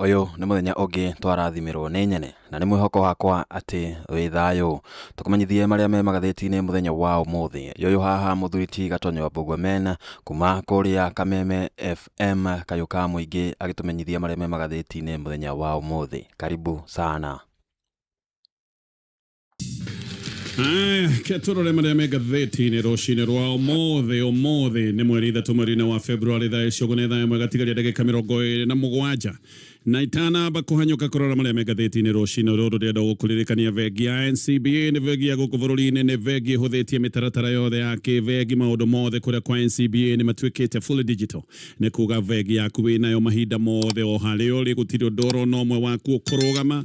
Ũyũ nĩ mũthenya ũngĩ twarathimĩrwo nĩ nyene, na nĩ mwĩhoko wakwa atĩ wĩ thayũ. Tũkũmenyithie marĩa me magathĩti-inĩ mũthenya wa ũmũthĩ. Yoyũ haha mũthuri ti Gatonyo Mbugua Men, kuma kũrĩa Kameme FM kayũ ka mũingĩ agĩtũmenyithia marĩa me magathĩti-inĩ mũthenya wa ũmũthĩ. Karibu sana. Aya, keturore marĩa me ngathĩti-inĩ rũcinĩ rwa ũmũthĩ ũmũthĩ nĩ mweri ithatũ mweri-inĩ wa Februari thaa icio nĩ thaa ĩmwe gatigaria ndagĩka mĩrongo ĩrĩ na mũgwanja na itanamba kũhanyũka kũrora marĩa me ngathĩti-inĩ rũcinĩ rũrũ ndĩrenda gũkũririkania bengi ya NCBA nĩ bengi ya gũkũ bũrũri-inĩ nĩ bengi ĩhũthĩtie mĩtaratara yothe ya kĩbengi maũndũ mothe kũrĩa kwa NCBA nĩ matuĩkĩte fully digital nĩ kuga bengi yaku wĩnayo mahinda mothe o harĩa ũrĩ gũtirĩ ũndũ orona ũmwe waku ũkũrũgama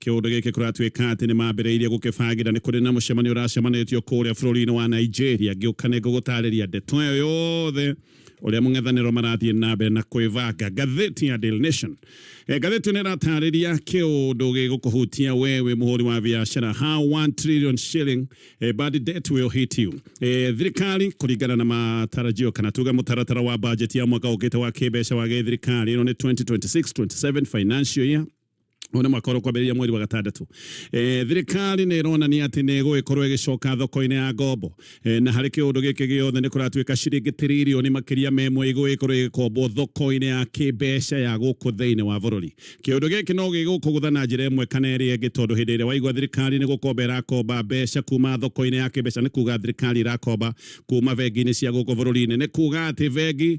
Kĩũndũ gĩkĩ kũratuĩka atĩ nĩ mambĩrĩirie gũkĩbangĩra nĩ kũrĩ na mũcemanio ũracemanĩtio kũrĩa bũrũri-inĩ wa Nigeria. Ngĩũka nĩ ngũgũtarĩria ndeto ĩyo yothe ũrĩa mũng'ethanĩro marathiĩ na mbere na kwĩbanga. Ngathĩti ya Daily Nation, eh, ngathĩti ĩyo nĩ ĩratarĩria kĩũndũ gĩgũkũhutia we wĩ mũhũri wa biacara. How 1 trillion shilling eh, bad debt will hit you. Eh, thirikari kũringana na matarajio kana tuge mũtaratara wa bajeti ya mwaka ũkĩte wa kĩmbeca wa gĩthirikari ĩno nĩ 2026-27 financial year Ũyũ nĩ mwaka ũrĩa ũkwambĩrĩria mweri wa gatandatũ. E, thirikari nĩ ĩronania atĩ nĩ ĩgũgĩkorwo ĩgĩcoka thoko-inĩ ya ngombo e, na harĩ kĩũndũ gĩkĩ gĩothe nĩ kũratuĩka ciringi tiririoni makĩria ma ĩmwe igũgĩkorwo ĩgĩkombwo thoko-inĩ ya kĩmbeca ya gũkũ thĩinĩ wa bũrũri. Kĩũndũ gĩkĩ no gĩgũkũgũtha na njĩra ĩmwe kana ĩrĩa ĩngĩ, tondũ hĩndĩ ĩrĩa waigua thirikari nĩ gũkomba ĩrakomba mbeca kuma thoko-inĩ ya kĩmbeca, nĩ kuga thirikari ĩrakomba kuma bengi-inĩ cia gũkũ bũrũri-inĩ, nĩ kuga atĩ bengi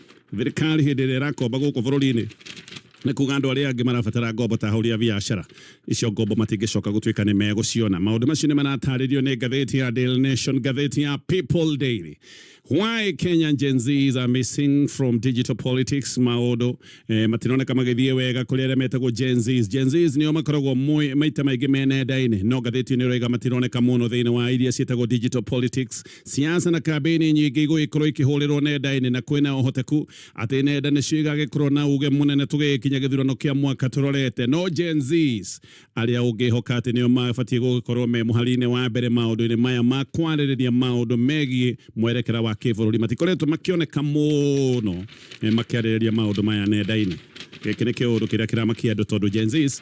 Thirikari hĩndĩ ĩrĩa ĩrakomba gũkũ bũrũri-inĩ nĩ kuga andũ arĩa angĩ marabatara ngombo ta ahũri a biacara icio ngombo matingĩcoka gũtuĩka nĩ megũciona maũndũ macio nĩ maratarĩrio nĩ ngathĩti ya Daily Nation ngathĩti ya People Daily why Kenyan Gen Zs are missing from digital politics maũndũ eh, matironeka magĩthiĩ wega kũrĩ arĩa metagwo Gen Zs Gen Zs nĩo makoragwo mwe- maita maingĩ me nenda-inĩ no ngathĩti nĩ ũraiga matironeka mũno thĩinĩ wa iria ciĩtagwo digital politics Siasa na kambĩini nyingĩ igũgĩkorwo ikĩhũrĩrwo nenda-inĩ na kwĩna ũhoteku atĩ nenda nĩcio igagĩkorwo na uge mũnene tũgĩkinya gĩthurano kĩa mwaka tũrorete. No Gen Zs arĩa ũngĩhoka atĩ nĩo mabatiĩ gũgĩkorwo me mũhari-inĩ wa mbere maũndũ-inĩ maya ma kwarĩrĩria maũndũ megiĩ mwerekera wa kĩbũrũri matikoretwo makĩoneka mũno makĩarĩrĩria maũndũ maya nenda-inĩ. Gĩkĩ nĩ kĩũndũ kĩrĩa kĩramakia andũ tondũ Gen Zs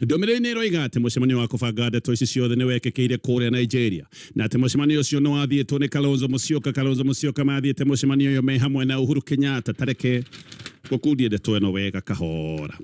Ndũmĩrĩri nĩ ĩroiga atĩ mũcemanio wa kũbanga ndeto ici ciothe nĩ wekĩkĩire kũrĩa Nigeria na atĩ mũcemanio ũcio nĩ wathiĩtwo nĩ Kalonzo Musyoka. Kalonzo Musyoka mathiĩte mũcemanio ũyũ me hamwe na Uhuru Kenyatta. Ta reke ngũkundie ndeto ĩno wega kahora.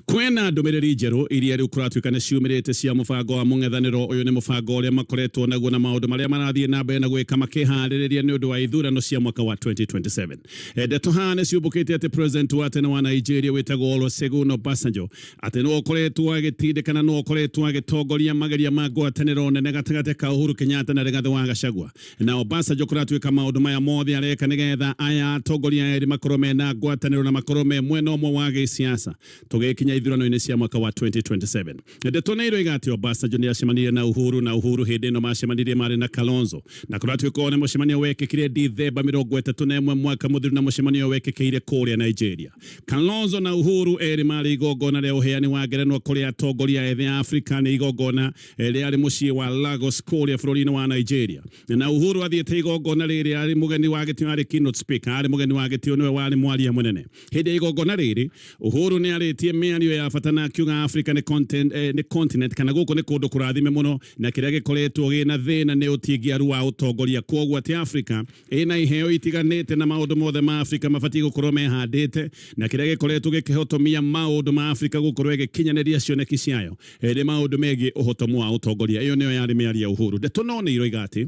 Kwĩna ndũmĩrĩri njerũ iria rĩu kũratuĩka nĩ ciumĩrĩte cia mũbango wa mũng'ethanĩro. Ũyũ nĩ mũbango ũrĩa makoretwo naguo na maũndũ marĩa marathiĩ na mbere na gwĩka makĩharĩrĩria nĩ ũndũ wa ithurano cia mwaka wa 2027. Ndeto haha nĩ ciumbũkĩte atĩ president wa tene wa Nigeria wĩtagwo Olusegun Obasanjo atĩ nĩ ũkoretwo agĩtindĩkana nĩ ũkoretwo agĩtongoria mageria ma ngwatanĩro nene gatagatĩ ka Uhuru Kenyatta na Rigathi wa Gachagua na Obasanjo kũratuĩka maũndũ maya mothe areka nĩgetha aya atongoria erĩ makorwo mena ngwatanĩro na makorwo me mwena ũmwe wa gĩsiasa tũgĩkinya ithurano-inĩ cia mwaka wa 2027. Ndeto na iroiga atĩ Obasanjo nĩ acemanirie na Uhuru na Uhuru hĩndĩ ĩno macemanirie marĩ na Kalonzo na kũratuĩka nĩ mũcemanio wekĩkire Dithemba mĩrongo ĩtatũ na ĩmwe mwaka mũthiru na mũcemanio wekĩkĩire kũrĩa Nigeria. Kalonzo na Uhuru erĩ marĩ igongona rĩa ũheani wa ngerenwa kũrĩ atongoria ethĩ a Afrika nĩ igongona eh, rĩarĩ mũciĩ wa Lagos kũrĩa bũrũri-inĩ wa Nigeria. Na Uhuru athiĩte igongona rĩrĩ arĩ mũgeni wa gĩtĩo arĩ keynote speaker, arĩ mũgeni wa gĩtĩo nĩwe warĩ mwaria mũnene. Hĩndĩ ya igongona rĩrĩ, Uhuru nĩ arĩtie mĩario ya bata na akiuga Africa nĩ content, eh, nĩ continent kana gũkũ nĩ kũndũ kũrathime mũno na kĩrĩa gĩkoretwo gĩna thĩna nĩ ũtingiaru wa ũtongoria kwoguo atĩ Africa ĩna iheo itiganĩte na maũndũ mothe ma Africa mabatiĩ gũkorwo mehandĩte na kĩrĩa gĩkoretwo gĩkĩhotomia maũndũ ma Africa gũkorwo ĩgĩkinyanĩria cioneki ciayo eh, nĩ maũndũ megiĩ ũhotomu wa ũtongoria. Ĩyo nĩyo yarĩ mĩario ya Uhuru. Ndeto no nĩ iroiga atĩ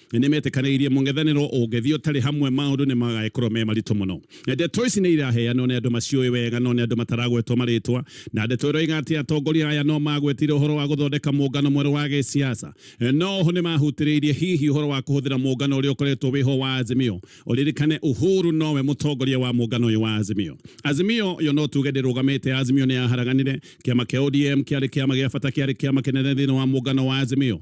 Nĩ nĩ metĩkanĩirie mũng'ethanĩro ũngĩthiĩ ũtarĩ hamwe maũndũ nĩ magagĩkorwo me maritũ mũno. Ndeto ici nĩ iraheanwo nĩ andũ maciũĩ wega no nĩ andũ mataragwetwo marĩtwa, na ndeto ĩroiga atĩ atongoria aya no magwetire ũhoro wa gũthondeka mũngano mwerũ wa gĩsiasa. No oho nĩ mahutĩrĩirie hihi ũhoro wa kũhũthĩra mũngano ũrĩa ũkoretwo wĩho wa Azimio. Ũririkane Uhuru nowe mũtongoria wa mũngano ũyũ wa Azimio. Azimio yo no tuge ndĩrũgamĩte, Azimio nĩ yaharaganire. Kĩama kĩa ODM kĩarĩ kĩama gĩa bata, kĩarĩ kĩama kĩnene thĩinĩ wa mũngano wa Azimio.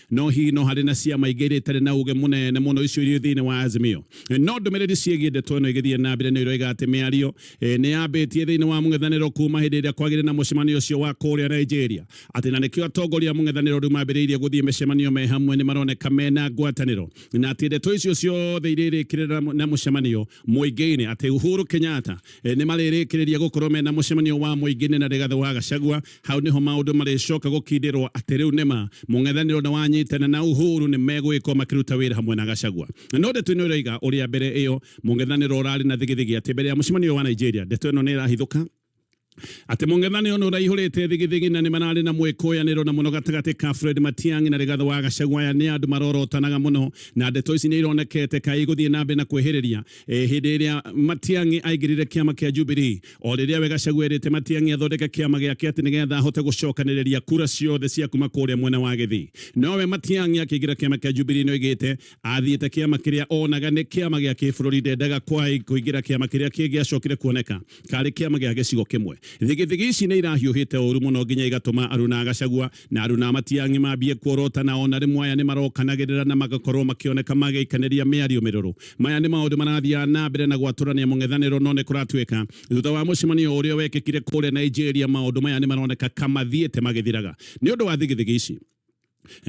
no hihi no harĩ na ciama ingĩ iria itarĩ na uge mũnene mũno icio irĩ thĩinĩ wa Azimio no ndũmĩrĩri ciĩgiĩ ndeto ĩno igĩthiĩ na mbere nĩ iroiga atĩ mĩario e, nĩ yambĩtie thĩinĩ wa mũng'ethanĩro kuma hĩndĩ ĩrĩa kwagĩire na mũcemanio ũcio wa kũrĩa Nigeria atĩ na nĩkĩo atongoria mũng'ethanĩro rĩu mambĩrĩirie gũthiĩ mĩcemanio me hamwe nĩ maroneka mena ngwatanĩro na atĩ ndeto icio ciothe irĩrĩkĩrĩra na mũcemanio mũingĩ-inĩ atĩ Uhuru Kenyatta e, nĩ marĩrĩkĩrĩria gũkorwo mena mũcemanio wa mũingĩ-inĩ na Rigathĩ wa Gachagua Hau nĩho maũndũ marĩcoka gũkindĩrwo atĩ rĩu nĩma mũng'ethanĩro nĩ wanyitana na Uhuru nĩ megũgĩkorwo makĩruta wĩra hamwe na Gachagua. No ndeto ĩno ĩroiga ũrĩa mbere ĩyo mũng'ethanĩro ũrarĩ na thigithigi atĩ mbere ya mũcemanio ũyũ wa Nigeria ndeto ĩno nĩ ĩrahithũka atĩ mũng'ethanĩro nĩ ũraihũrĩte thigithigi na nĩ mararĩ na mwĩkũyanĩro na mũno gatagatĩ ka Fred Matiang'i na Rigathĩ wa Gachagua aya nĩ andũ marorotanaga mũno na ndeto ici nĩ ironekete kaĩ igũthiĩ na mbere na kwĩhĩrĩria e, hĩndĩ ĩrĩa Matiang'i aingĩrire kĩama kĩa Jubilee o rĩrĩa we Gachagua erĩte Matiang'i athondeke kĩama gĩake atĩ nĩgetha ahote gũcokanĩrĩria kura ciothe cia kuma kũrĩa mwena wa Gĩthii nowe Matiang'i akĩingĩra kĩama kĩa Jubilee nĩ oigĩte athiĩte kĩama kĩrĩa onaga nĩ kĩama gĩa kĩbũrũri ndendaga kũingĩra kĩama kĩrĩa kĩngĩacokire kuoneka karĩ kĩama gĩa gĩcigo kĩmwe thigithigi ici nĩ irahiũhĩte ũru mũno nginya igatũma Aruna Gachagua Na Aruna a Matiang'i maambie kuorotana o na rĩmwe, aya nĩmarokanagĩrĩra na magakorwo makĩoneka magĩikanĩria mĩario mĩrũrũ. Maya nĩ maũndũ marathiaga na mbere na gwatũrania mũng'ethanĩro no nĩkũratuĩka thutha wa mũcemanio ũrĩa wekĩkire kũrĩa Nigeria maũndũ maya nĩmaroneka ka mathiĩte magĩthiraga nĩ ũndũ wa thigithigi ici.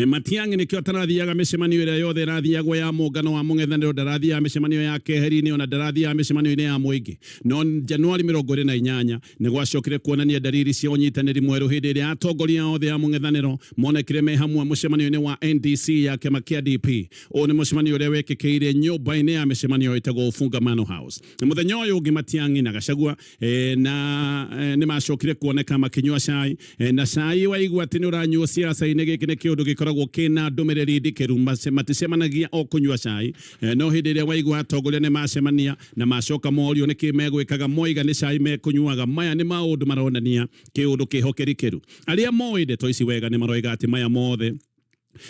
Matiang'i nĩkĩo atarathiaga mĩcemanio ĩrĩa yothe ĩrathiagwo ya mũngano wa mũng'ethanĩro, ndarathiaga mĩcemanio ya keheri-inĩ o na ndarathiaga mĩcemanio-inĩ ya mũingĩ. No Januari mĩrongo ĩrĩ na inyanya, Nĩ gwacokire kuonania ndariri cia ũnyitanĩri mwerũ hĩndĩ ĩrĩa atongoria othe a mũng'ethanĩro monekire me hamwe mũcemanio-inĩ wa NDC ya kĩama kĩa DP. Ũyũ nĩ mũcemanio ũrĩa wekĩkĩire nyũmba-inĩ ya mĩcemanio ĩtagwo Ufungamano House. Mũthenya ũyũ ũngĩ Matiang'i na Gachagua e, na e, nĩ macokire kuoneka makĩnyua cai e, na cai waigua atĩ nĩ ũranyuo siasa-inĩ. Gĩkĩ nĩ kĩũndũ gĩkoragwo kĩna ndũmĩrĩri ndikĩru. Mace- Maticemanagia o kũnyua cai e, no hĩndĩ ĩrĩa waigua atongoria nĩ macemania Na macoka morio nĩ kĩ megwĩkaga moiga nĩ cai mekũnyuaga. Maya nĩ maũndũ maronania kĩũndũ kĩhokeri kĩru. Arĩa moĩ ndeto ici wega nĩ maroiga atĩ maya mothe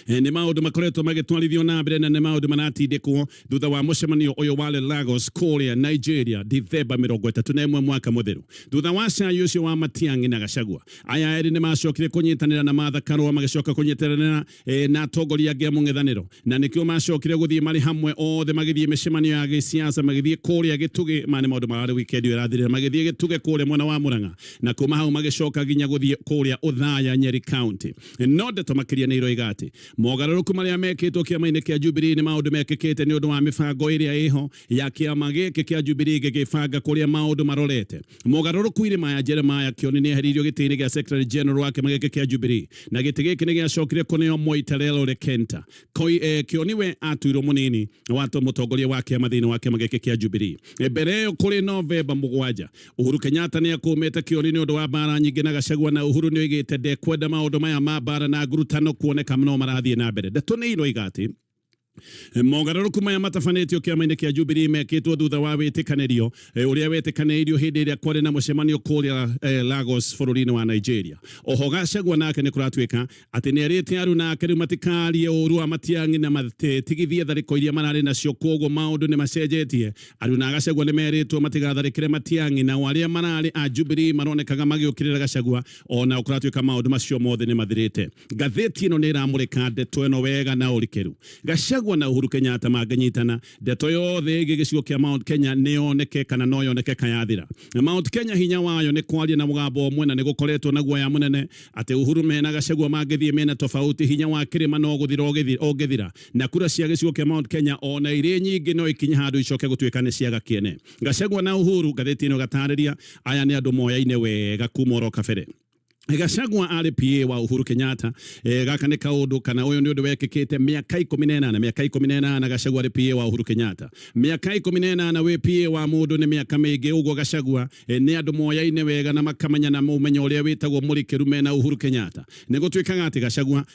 nĩ maũndũ makoretwo magĩtwarithio na mbere na nĩ maũndũ maratindĩkwo thutha wa mũcemanio ũyũ warĩ Lagos kũrĩa Nigeria Dithemba mĩrongo ĩtatũ na ĩmwe mwaka mũtheru thutha wa cai ũcio wa Matiang'i na Gachagua. Aya erĩ nĩ macokire kũnyitanĩra na Martha Karũa magĩcoka kũnyitanĩra e, na atongoria angĩ a mũng'ethanĩro na nĩkĩo macokire gũthiĩ marĩ hamwe othe magĩthiĩ mĩcemanio ya gĩsiasa magĩthiĩ kũrĩa gĩtugĩ ma nĩ maũndũ mararĩ wikendi ĩrathirĩra magĩthiĩ gĩtugĩ kũrĩa mwena wa mũrang'a na kuma hau magĩcoka nginya gũthiĩ kũrĩa ũthaya nyeri county no ndeto makĩria nĩ iroiga atĩ mogarũrũku marĩa mekĩtwo kĩama-inĩ kĩa Jubilee nĩ maũndũ mekĩkĩte nĩ ũndũ wa mĩbango ĩrĩa ĩho ya kĩama gĩkĩ kĩa Jubilee gĩgĩbanga kũrĩa maũndũ marorete. Mogarũrũku irĩ maya Jeremiah Kioni nĩ eheririo gĩtĩ-inĩ gĩa Secretary General wa kĩama gĩkĩ kĩa Jubilee na gĩtĩ gĩkĩ nĩ gĩacokire kũneo Moi Terrell Lekenta. Koi, eh, Kioni we atuirwo mũnini wa to- mũtongoria wa kĩama thĩinĩ wa kĩama gĩkĩ kĩa Jubilee. Eh, Mbere ĩyo kũrĩ Novemba mũgwanja, Uhuru Kenyatta nĩ akũmĩte Kioni nĩ ũndũ wa mbara nyingĩ na Gachagua na Uhuru nĩ oigĩte ndekwenda maũndũ maya ma mbara na ngurutano kuoneka no marathiĩ na mbere. Ndeto nĩ iroiga atĩ mogarũrũku maya matabanĩtio kĩama-inĩ kĩa Jubilee mekĩtwo thutha wa wĩtĩkanĩrio eh, ũrĩa wetĩkanĩirio hĩndĩ ĩrĩa kwarĩ na mũcemanio kũrĩa eh, Lagos bũrũri-inĩ wa Nigeria. Oho Gachagua nake nĩ kũratuĩka atĩ nĩ erĩte aruna ake rĩu matikarie ũru wa Matiang'i na matigithie tharĩko iria mararĩ nacio, koguo maũndũ nĩ macenjetie. Aruna a Gachagua nĩ merĩtwo matigatharĩkĩre Matiang'i, nao arĩa mararĩ a Jubilee maronekaga magĩũkĩrĩra Gachagua o na kũratuĩka maũndũ macio mothe nĩ mathirĩte ngathĩti ĩno nĩ ĩramũrĩka ndeto ĩno wega na ũrikeru gacagwa na uhuru kenyatta mangĩnyitana ndeto yothe ĩgiĩ gĩcigo kĩa mount kenya nĩ yoneke kana no yoneke kayathira na mount kenya hinya wayo nĩ kwaria na mũgambo ũmwe na nĩ gũkoretwo na guoya mũnene atĩ uhuru mena gacagwa mangĩthiĩ mena tofauti hinya wa kĩrĩma no gũthira ũgĩthi- ũngĩthira na kura cia gĩcigo kĩa mount kenya o na irĩ nyingĩ no ikinye handũ icoke gũtuĩka nĩ ciaga kĩene Gachagua na Uhuru gatheti ino gatariria aya ni andu moyaine wega kuma oro kabere Gachagua arĩ PA wa Uhuru Kenyatta e, gaka nĩ kaũndũ kana ũyũ nĩ ũndũ wekĩkĩte mĩaka ikũmi na ĩnana mĩaka ikũmi na ĩnana Gachagua arĩ PA wa Uhuru Kenyatta mĩaka ikũmi na ĩnana wĩ PA wa mũndũ nĩ mĩaka mĩingĩ ũguo Gachagua e, nĩ andũ moyaine wega na makamenya na mũmenya ũrĩa wĩtagwo mũrikĩru mena Uhuru Kenyatta nĩ gũtuĩkaga atĩ Gachagua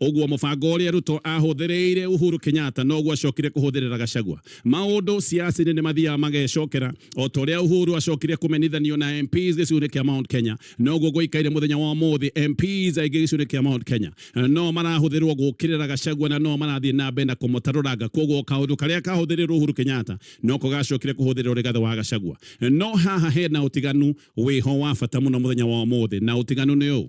Ũguo mũbango ũrĩa Ruto aahũthĩrĩire Uhuru Kenyatta noguo acokire kũhũthĩrĩra Gachagua. Maũndũ siasainĩ nĩ mathiaga magecokera. O ta ũrĩa Uhuru acokire kũmenithanio na MPs gĩcigo-inĩ kĩa Mount Kenya, noguo gũikaire mũthenya wa ũmũthĩ MPs aingĩ gĩcigo-inĩ kĩa Mount Kenya no marahũthĩrĩrwo gũkĩrĩra Gachagua na no marathiĩ na mbere na kũmũtarũranga. Kwoguo kaũndũ karĩa kahũthĩrĩrwo Uhuru Kenyatta noko gacokire kũhũthĩrĩrwo Rigathi wa Gachagua. No haha hena ũtiganu wĩho wa bata mũno mũthenya wa ũmũthĩ na ũtiganu nĩ ũũ,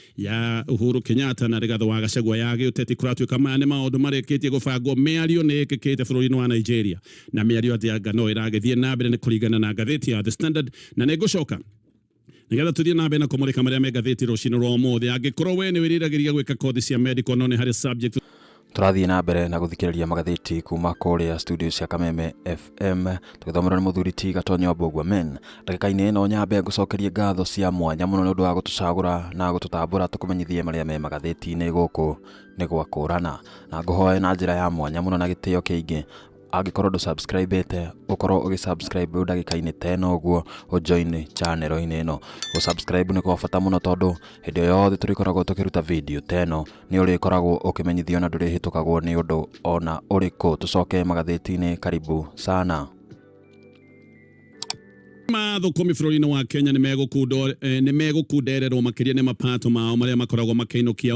ya Uhuru Kenyatta na Rigathi wa Gachagua ya gĩũteti kũratuĩka maya nĩ maũndũ marĩkĩtie gũbangwo mĩario nĩ ĩkĩkĩte bũrũri-inĩ wa Nigeria na mĩario atĩ anga no ĩragĩthiĩ na mbere nĩ kũringana na ngathĩti ya The Standard na nĩ ngũcoka nigetha tuthie na mbere na kumurika maria me ngathĩti rucini rwa umuthi angikorwo we ni wiriragiriria gwika kothi cia medical no ni hari subject Tũrathiĩ na mbere na gũthikĩrĩria magathĩti kuma kũrĩa studio cia Kameme FM tũgĩthomerwo nĩ mũthuri ti Gatonyo Mbũgua Men. Ndagĩka-inĩ ĩno nyambe ngũcokerie ngatho cia mwanya mũno nĩ ũndũ wa gũtũcagũra na gũtũtambũra tũkũmenyithie marĩa me magathĩti-inĩ gũkũ nĩ gwakũrana, na ngũhoe na njĩra ya mwanya mũno na gĩtĩo kĩingĩ angĩkorwo ndũ subscribete ũkorwo ũgĩ subscribe rĩu ndagĩka-inĩ ta ĩno ũguo ũ join channel inĩ ĩno gũ subscribe nĩ kwa bata mũno tondũ hĩndĩ ĩyo yothe tũrĩkoragwo tũkĩruta video ta ĩno nĩ ũrĩkoragwo ũkĩmenyithio na ndũrĩhĩtũkagwo nĩ ũndũ ona ũrĩkũ tũcoke magathĩti-inĩ karibu sana mathũkũmi bũrũri-inĩ wa Kenya nĩ megũkundererwo eh, makĩria nĩ mapato mao marĩa makoragwo makĩinũkia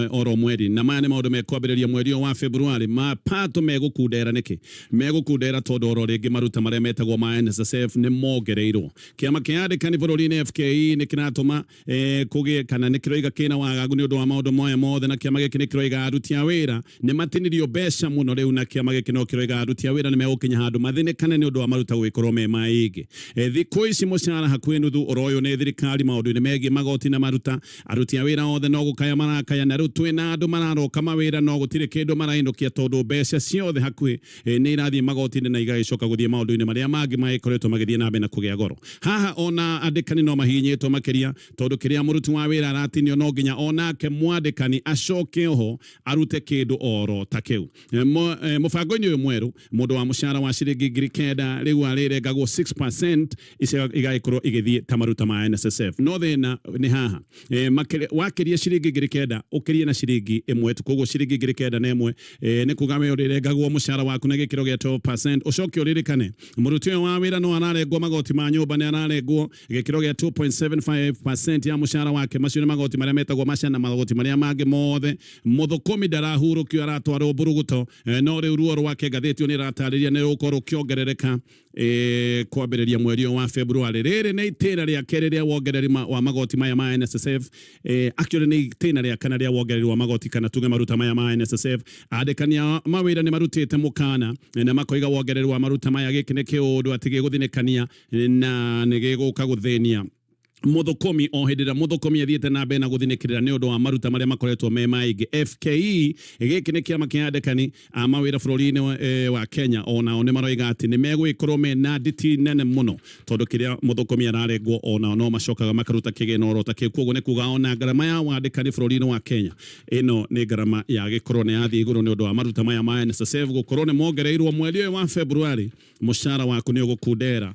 eh, oro mweri na maya nĩ maũndũ mekwambĩrĩria mweri ũyũ wa Februarĩ mapato megũkundera nĩkĩ megũkundera tondũ oro rĩngĩ maruta marĩa metagwo ma NSSF nĩ mongereirwo kĩama kĩa andĩkani bũrũri-inĩ FKE nĩ kĩratũma e, kũgĩe kana nĩ kĩroiga kĩna wagagu nĩ ũndũ wa maũndũ moya mothe na kĩama gĩkĩ nĩ kĩroiga aruti a wĩra nĩ matinirio mbeca mũno rĩu na kĩama gĩkĩ no kĩroiga aruti a wĩra nĩ megũkinya handũ mathĩnĩkane nĩ ũndũ wa maruta gũgĩkorwo me maingĩ e, thikũ ici mũcara hakuhĩ nuthu ũroywo nĩ thirikari maũndũ-inĩ megiĩ magoti na maruta aruti a wĩra othe no gũkaya marakaya na rĩu twĩna andũ mararoka mawĩra no gũtirĩ kĩndũ marainũkia tondũ mbeca ciothe hakuhĩ eh, nĩ irathiĩ magoti-inĩ na igagĩcoka gũthiĩ maũndũ-inĩ marĩa mangĩ magĩkoretwo magĩthiĩ na mbere na kũgĩa goro haha ona andĩkani no mahinyĩtwo makĩria tondũ kĩrĩa mũruti wa wĩra aratinio no nginya onake mwandĩkani acoke oho arute kĩndũ oro ta kĩu Eh, mo- eh, mũbango-inĩ ũyũ mwerũ mũndũ wa mũcara wa ciringi ngiri kenda rĩu arĩrengagwo 6% icio igagĩkorwo igĩthiĩ ta maruta ma NSSF no thĩna nĩ haha e, makĩria- wakĩria ciringi ngiri kenda ũkĩrie na ciringi ĩmwe tu koguo ciringi ngiri kenda na ĩmwe e, nĩ kuga we ũrĩrengagwo mũcara waku na gĩkĩro gĩa 12% ũcoke ũririkane mũruti ũyũ wa wĩra no ararengwo magoti ma nyũmba nĩ ararengwo gĩkĩro gĩa 2.75% ya mũcara wake macio nĩ magoti marĩa metagwo maca na magoti marĩa mangĩ mothe mũthũkũmi ndarahurũkio aratwarwo mburuguto e, no rĩu ruo rwake ngathĩti ĩyo nĩ ĩratarĩria nĩ rũgũkorwo rũkĩongerereka E, kwambĩrĩria mweri wa February rĩrĩ nĩ itĩna rĩa kerĩ rĩa wongereri wa magoti maya ma NSSF e, actually nĩ itĩna rĩa kana rĩa wongereri wa magoti kana tuge maruta maya ma NSSF andĩkania mawĩra nĩ marutĩte mũkana na makoiga wongereri wa maruta maya gĩkĩ nĩ kĩũndũ atĩ gĩgũthinĩkania na nĩ gĩgũka gũthĩnia mũthũkũmi o hĩndĩ ĩrĩa mũthũkũmi athiĩte na mbere na gũthinĩkĩrĩra nĩ ũndũ wa maruta marĩa makoretwo me maingĩ FKE gĩkĩ nĩ kĩama kĩa andĩkani a mawĩra bũrũri-inĩ wa, e, wa Kenya o nao nĩ maroiga atĩ nĩ megũgĩkorwo me na nditi nene mũno tondũ kĩrĩa mũthũkũmi ararengwo o nao no macokaga makaruta kĩgĩna oro ta kĩu koguo nĩ kuga ona ngarama ya wandĩkani bũrũri-inĩ wa Kenya ĩno nĩ ngarama ya gĩkorwo nĩ yathiĩ igũrũ nĩ ũndũ wa maruta maya ma NSSF gũkorwo nĩ mongereirwo mweri ũyũ wa February mũcara waku nĩ ũgũkundera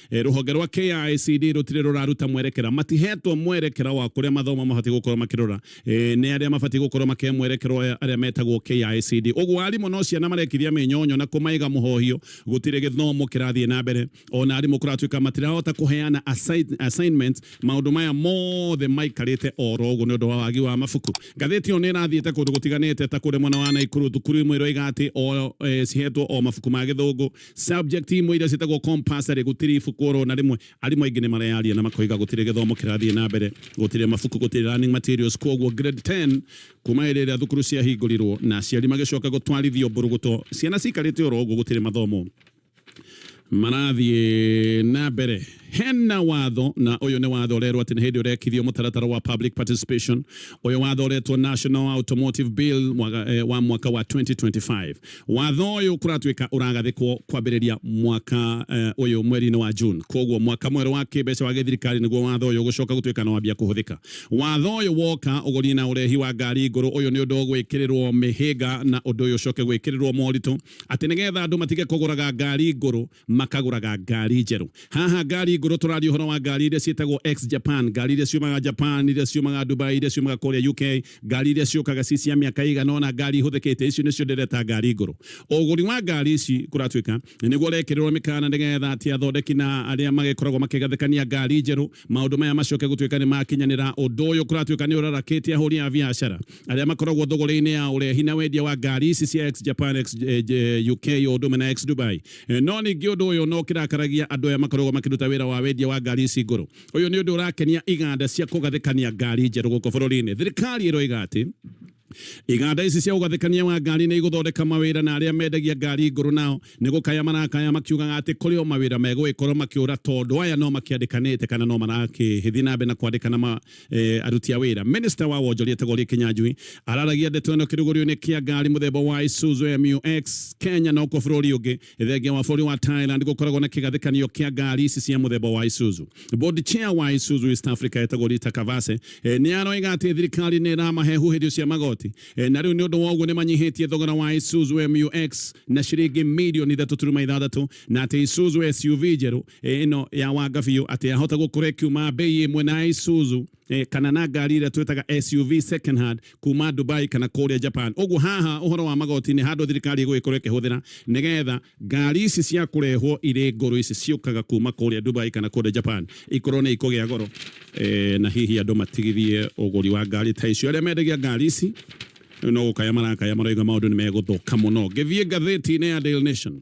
Eh, rũhonge rwa KICD rũtirĩ rũraruta mwerekera matihetwo mwerekera wa kũrĩa mathomo mabatiĩ gũkorwo makĩrora eh, nĩ arĩa mabatiĩ gũkorwo makĩhe mwerekero arĩa metagwo KICD ũguo arimũ no ciana marekithia mĩnyonyo na kũmaiga mũhohio gũtirĩ gĩthomo kĩrathiĩ na mbere ona arimũ kũratuĩka matirahota kũheana assignment maũndũ maya mothe maikarĩte oro ũguo nĩ ũndũ wa wagi wa mabuku ngathĩti ĩyo nĩ ĩrathiĩte kũndũ gũtiganĩte ta kũrĩ mwena wa Naikuru thukuru imwe iroiga atĩ o eh, cihetwo o mabuku ma gĩthũngũ Subject imwe iria ciĩtagwo compulsory gũtirĩ ibuku oro na rĩmwe arimũ aingĩ nĩ mareyaria na makoiga gũtirĩ gĩthomo kĩrathiĩ na mbere gũtirĩ mabuku gũtirĩ learning materials koguo grade 10 kuma hĩndĩ ĩrĩa thukuru ciahingũrirwo na aciari magĩcoka gũtwarithio mbũrũgũto ciana cikarĩte oro ũguo gũtirĩ mathomo marathiĩ na mbere hena watho na ũyũ nĩ watho ũrerwo atĩ nĩ hĩndĩ ũrekithio mũtaratara wa public participation ũyũ watho ũretwo National Automotive Bill mwaga, eh, wa mwaka wa 2025 Watho ũyũ kũratuĩka ũragathĩkwo kwambĩrĩria mwaka eh, ũyũ mweri-inĩ wa June. Koguo mwaka mwerũ wa kĩmbeca wa gĩthirikari nĩguo watho ũyũ gũcoka gũtuĩka na wambia kũhũthĩka. Watho ũyũ woka ũgũriĩ na ũrehi wa ngari ngũrũ ũyũ nĩ ũndũ gwĩkĩrĩrwo mĩhĩnga na ũndũ ũyũ ũcoke gwĩkĩrĩrwo moritũ atĩ nĩgetha andũ matige kũgũraga ngari ngũrũ makagũraga ngari njerũ. Haha ngari ngũrũ tũraria ũhoro wa ngari iria ciĩtagwo X Japan, ngari iria ciumaga Japan, iria ciumaga Dubai, iria ciumaga kũrĩa UK, ngari iria ciũkaga ci cia mĩaka ĩigana ũna, ngari ihũthĩkĩte, icio nĩcio ndĩreta ngari ngũrũ. Ũgũri wa ngari ici kũratuĩka nĩguo ũrekĩrĩrwo mĩkana nĩgetha atĩ athondeki na arĩa magĩkoragwo makĩgathĩkania ngari njerũ Maũndũ maya macoke gũtuĩka nĩ makinyanĩra, ũndũ ũyũ kũratuĩka nĩ ũrarakĩtie ahũri a biacara arĩa makoragwo thũgũrĩ-inĩ ya ũrehi na wendia wa ngari ici cia ex-Japan, ex-UK o ũndũ ũmwe na ex-Dubai. No ningĩ ũndũ ũyũ no kĩrakaragia andũ aya makoragwo makĩruta wĩra wa wendia wa ngari ici ngũrũ. Ũyũ nĩ ũndũ ũrakenia iganda cia kũgathĩkania ngari njerũ gũkũ bũrũri-inĩ. Thirikari ĩroiga atĩ. Iganda ici cia ũgathĩkania wa ngari nĩ igũthondeka mawĩra na arĩa mendagia ngari ngũrũ nao nĩ gũkaya marakaya makiugaga atĩ kũrĩ o mawĩra megũgĩkorwo makĩũra tondũ aya no makĩandĩkanĩte kana no marakĩthiĩ na mbere na kwandĩkana ma, e, aruti a wĩra. Minista wa wonjoria Tegorie Kinyanjui araragia ndeto ĩno kĩrugũrio-inĩ kĩa ngari mũthemba wa Isuzu MUX Kenya no kuo bũrũri ũngĩ Thengia wa bũrũri wa Thailand gũkoragwo na kĩgathĩkanio kĩa ngari ici cia mũthemba wa Isuzu. Board chair wa Isuzu East Africa etagwo Rita Kavase eh, nĩ aroiga atĩ thirikari nĩ ĩramahe huhĩrio cia magoti eh, na rĩu nĩ ũndũ wa ũguo nĩ manyihĩtie thogora wa Isuzu MUX na ciringi mirioni ithatũ turuma ithathatũ na atĩ Isuzu SUV njerũ eh, ĩno ya wanga biũ atĩ yahota gũkorwo ĩkiuma bei ĩmwe na Isuzu eh, kana na ngari ĩrĩa twĩtaga SUV second hand kuma Dubai kana kũrĩa Japan ũguo haha ũhoro wa magoti nĩ handũ thirikari ĩgũgĩkorwo ĩkĩhũthĩra nĩgetha ngari ici cia kũrehwo irĩ ngũrũ ici ciũkaga kuma kũrĩa Dubai kana kũrĩa Japan ikorwo nĩ ikũgĩa goro e, na hihi andũ matigithie ũgũri wa ngari ta icio arĩa mendagia ngari ici no gũkaya marakaya marauga maũndũ nĩ megũthũka mũno ngĩthiĩ ngathĩti-inĩ ya Daily Nation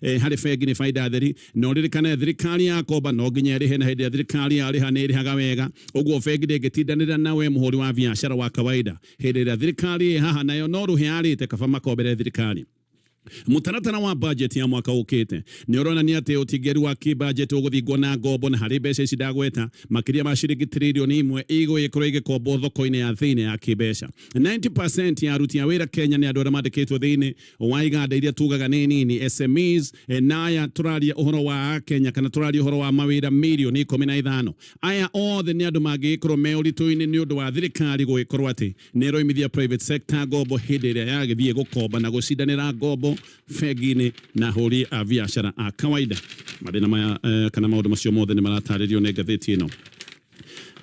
e, harĩ bengi nĩ baida theri na ũririkane thirikari ya komba no nginya ĩrĩhe na hĩndĩ ya thirikari ya rĩha nĩ ĩrĩhaga wega ũguo bengi ndĩngĩtindanĩra nawe mũhũri wa biacara wa kawaida hĩndĩ ĩrĩa thirikari ĩ haha nayo no rũhe arĩte kaba makombere thirikari Mũtaratara wa bajeti ya mwaka ũkĩte nĩ ũronania atĩ ũtingĩru wa kĩbajeti ũgũthingwo na ngombo na harĩ mbeca ici ndagweta makĩria ma ciringi tiririoni imwe igũgĩkorwo igĩkombwo thoko-inĩ ya thĩinĩ ya kĩbeca 90% ya aruti a wĩra Kenya nĩ andũ arĩa mandĩkĩtwo thĩinĩ wa iganda iria tugaga nĩ nini SMEs e, na aya tũraria ũhoro wa Kenya kana tũraria ũhoro wa mawĩra mirioni ikũmi na ithano aya othe nĩ andũ mangĩgĩkorwo me ũritũ-inĩ nĩ ũndũ wa thirikari gũgĩkorwo atĩ nĩ ĩroimithia private sector ngombo hĩndĩ ĩrĩa yagĩthiĩ gũkomba na gũcindanĩra ngombo bengi-inĩ na hũri a biacara a kawaida mathĩna maya eh, kana maũndũ macio mothe nĩ maratarĩrio nĩ ngathĩti ĩno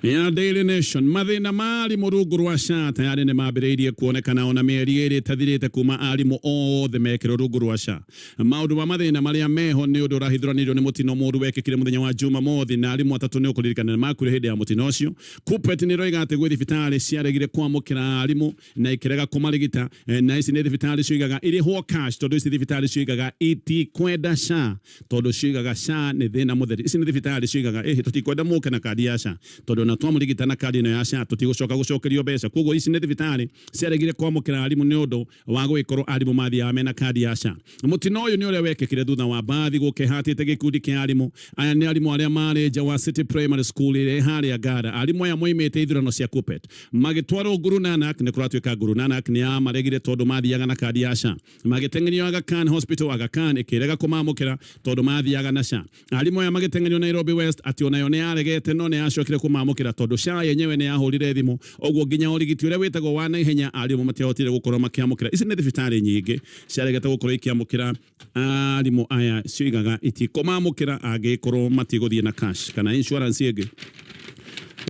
ya Daily Nation mathĩna ma arimũ rungu rwa SHA tayarĩ nĩ mambĩrĩirie kuonekana ona mĩeri ĩrĩ ĩtathirĩte kuma arimũ othe mekĩrwo rungu rwa SHA. Maũndũ ma mathĩna marĩa meho nĩ ũndũ ũrahithũranĩirio nĩ mũtino mũru wekĩkire mũthenya wa Jumamothi na arimũ atatũ nĩ ũkũririkana nĩ makuire hĩndĩ ya mũtino ũcio. Kuppet nĩ ĩroiga atĩ gwĩ thibitarĩ ciaregire kwamũkĩra arimũ na ikirega kumarigita eh, na ici ni thibitari cigaga irihwo cash tondu ici thibitari cigaga itikwenda sha tondu cigaga sha ni thina mutheri ici ni thibitari cigaga eh tutikwenda muke na kadi ya sha tondu na twamurigita na kadi no ya sha tutigucoka gucokerio mbeca koguo ici ni thibitari ciaregire kwamukira arimu ni undu wa gwikorwo arimu mathiaga mena kadi ya sha Mũtino ũyũ nĩ ũrĩa wekĩkire thutha wa mbathi gũkehatĩte gĩkundi kĩa arimũ. Aya nĩ arimũ arĩa marĩ nja wa City Primary School ĩrĩa ĩ harĩa Ngara. Arimũ aya moimĩte ithurano cia KUPPET magĩtwarwo Guru Nanak. Nĩ kũratuĩka Guru Nanak nĩ yamaregire tondũ mathiaga na kandi ya SHA. Magĩteng'erio Aga Khan Hospital, Aga Khan ĩkĩrega kũmamũkĩra tondũ mathiaga na SHA. Arimũ aya magĩteng'erio Nairobi West atĩ o nayo nĩ yaregete no nĩ yacokire kũmamũkĩra tondũ SHA yenyewe nĩ yahũrire thimũ. Ũguo nginya ũrigiti ũrĩa wĩtagwo wa naihenya arimũ matiahotire gũkorwo makĩamũkĩra. Ici nĩ thibitarĩ nyingĩ ciaregete gũkorwo ikĩamũkĩra arimũ aya cioigaga itikũmamũkĩra angĩkorwo matigũthiĩ na cash kana insurance ĩngĩ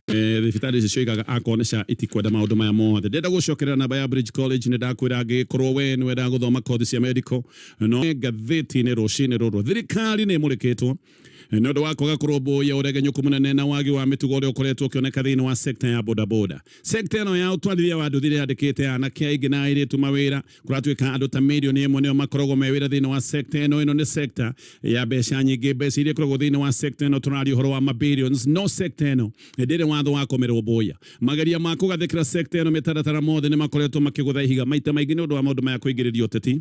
eh, thibitarĩ ici cioigaga akorwo nĩ SHA itikwenda maũndũ maya mothe. Ndĩrenda gũcokerera namba ya Bridge College nĩ ndakwĩra angĩgĩkorwo we nĩ wendaga gũthoma kothi cia medical no ngathĩti-inĩ rũcinĩ rũrũ thirikari nĩ ĩmũrĩkĩtwo nĩ ũndũ wa kwaga kũrũmbũiya ũregenyũku mũnene na wagi wa mĩtugo ũrĩa ũkoretwo ũkĩoneka thĩinĩ wa sekta ya bodaboda. Sekta ĩno ya ũtwarithia wa nduthi ĩrandĩkĩte anake aingĩ na airĩtu mawĩra, kũratuĩka andũ ta mirioni ĩmwe nĩo makoragwo me wĩra thĩinĩ wa sekta ĩno. Ĩno nĩ sekta ya mbeca nyingĩ, mbeca iria ikoragwo thĩinĩ wa sekta ĩno tũraria ũhoro wa mabillions, no sekta ĩno ndĩrĩ watho wa kũmĩrũmbũiya. Mageria ma kũgathĩkĩra sekta ĩno mĩtaratara mothe nĩ makoretwo makĩgũtha ihiga maita maingĩ nĩ ũndũ wa maũndũ maya kũingĩrĩria ũteti.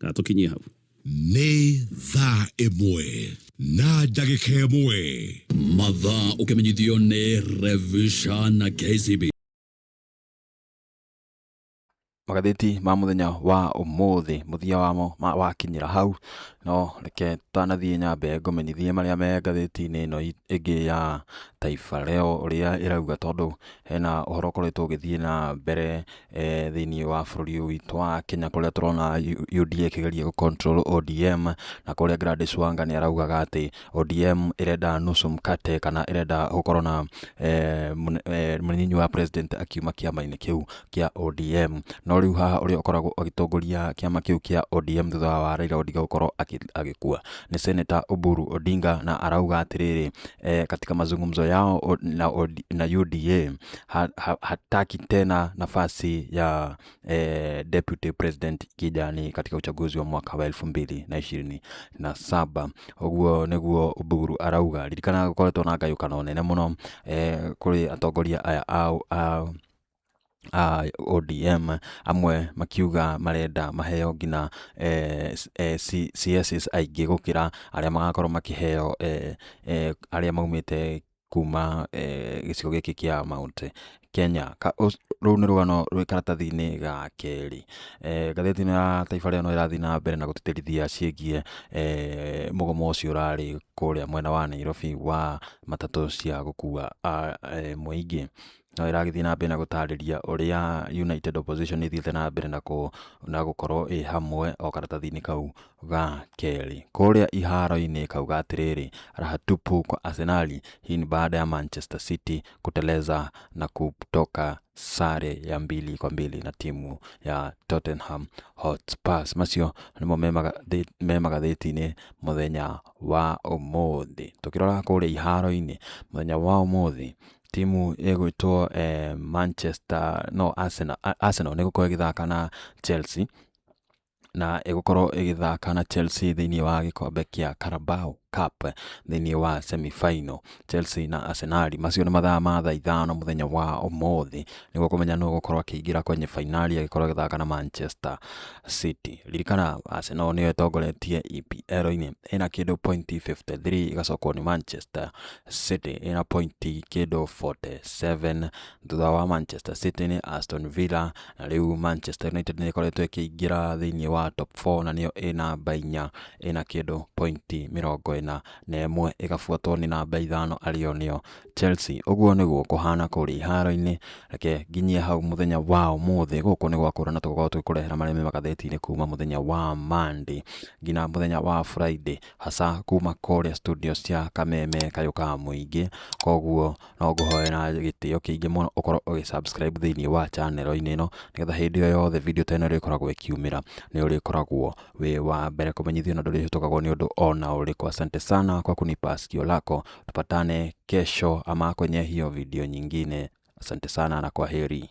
Ka tũkinyie hau. nĩ thaa ĩmwe na ndagĩka ĩmwe mathaa ũkĩmenyithio nĩ revisha na kcb magathĩti ma mũthenya wa ũmũthĩ mũthia wamo ma- wakinyĩra hau no reke tanathiĩ nyambe ngũmenyithie marĩa me ngathĩti-inĩ ĩno i- ĩngĩ ya taifa leo ũrĩa ĩrauga tondũ hena ũhoro ũkoretwo ũgĩthiĩ na mbere thĩinĩ wa bũrũri ũyũ witũ wa Kenya kũrĩa tũrona UDA ĩkĩgeria gũ control ODM na kũrĩa Gladys Wanga nĩ araugaga atĩ ODM ĩrenda nusu mkate kana ĩrenda gũkorwo na mũnyinyi wa president akiuma kĩama-inĩ kĩu kĩa ODM. No rĩu haha ũrĩa ũkoragwo agĩtongoria kĩama kĩu kĩa ODM thutha wa Raila Odinga gũkorwo agĩkua nĩ Senator Oburu Odinga na arauga atĩrĩrĩ eh, katika mazungumzo yao o- na, od- na UDA ha, ha, hataki tena nafasi ya eh, deputy president Kijani katika uchaguzi wa mwaka wa elfu mbili na ishirini na saba ũguo nĩguo Oburu arauga ririkana gũkoretwo na ngayũkano nene mũno eh, kũrĩ atongoria aya a, a a ODM, amwe makiuga marenda maheo nginya CS aingĩ gũkĩra arĩa magakorwo makĩheo arĩa maumĩte kuma gĩcigo gĩkĩ kĩa Mount Kenya. Rũu nĩ rũgano rwĩ karatathi-inĩ ga kerĩ. Ngathĩti ĩno ya Taifa Leo no ĩrathiĩ na mbere na gũtĩtĩrithia ciĩgiĩ mũgomo ũcio ũrarĩ kũrĩa mwena wa Nairobi wa matatũ cia gũkua mũingĩ. no ĩragĩthiĩ na mbere na gũtarĩria ũrĩa United Opposition ĩthiĩte na mbere na, kũ, na gũkorwo ĩ hamwe o karatathi-inĩ kau ga kerĩ kũrĩa iharo-inĩ kauga atĩrĩrĩ raha tupu kwa Arsenali hii ni baada ya Manchester City kuteleza na kutoka sare ya mbili kwa mbili na timu ya Tottenham Hotspurs macio nĩmo me magathĩti-inĩ mũthenya wa ũmũthĩ tũkĩrora kũrĩa iharo-inĩ mũthenya wa ũmũthĩ Timu ĩgwĩtwo eh, Manchester no Arsenal, A- Arsenal nĩ gũkorwo ĩgĩthaka na Chelsea na ĩgũkorwo ĩgĩthaka na Chelsea thĩinĩ wa gĩkombe kĩa Carabao Cup thĩinĩ wa semi final Chelsea na Arsenal macio nĩ mathaa ma thaa ithano mũthenya wa ũmũthĩ nĩguo kũmenya nũ gũkorwo akĩingĩra kwenye fainali agĩkorwo agĩthaka na Manchester City ririkana Arsenal nĩyo ĩtongoretie EPL-inĩ ĩna kĩndũ pointi 53 ĩgacokwo nĩ Manchester City ĩna pointi kĩndũ 47 thutha wa Manchester City nĩ Aston Villa na rĩu Manchester United nĩ ĩkoretwo ĩkĩingĩra thĩinĩ wa top 4 na nĩyo ĩ namba inya ĩna kĩndũ pointi mĩrongo ĩna na ĩmwe ĩgabuatwo nĩ namba ithano arĩo nĩyo Chelsea. Ũguo nĩguo kũhana kũrĩa iharo-inĩ, reke nginyie hau mũthenya wa ũmũthĩ. Gũkũ nĩ gwakũra na tũgũkorwo tũgĩkũrehera marĩa me magathĩti-inĩ kuma mũthenya wa Monday nginya mũthenya wa Friday. Aca kuma kũrĩa studio cia kameme kayũ ka mũingĩ, koguo no ngũhoe na gĩtĩo kĩingĩ mũno ũkorwo ũgĩ subscribe thĩinĩ wa channel -inĩ ĩno, nĩgetha hĩndĩ ĩyo yothe video ta ĩno ĩrĩkoragwo ĩkiumĩra nĩ ũrĩkoragwo wĩ wa mbere kũmenyithio na ndũrĩhĩtũkagwo nĩ ũndũ ona ũrĩkũ. Asante sana kwa kunipa sikio lako, tupatane kesho ama kwenye hiyo video nyingine. Asante sana na kwaheri.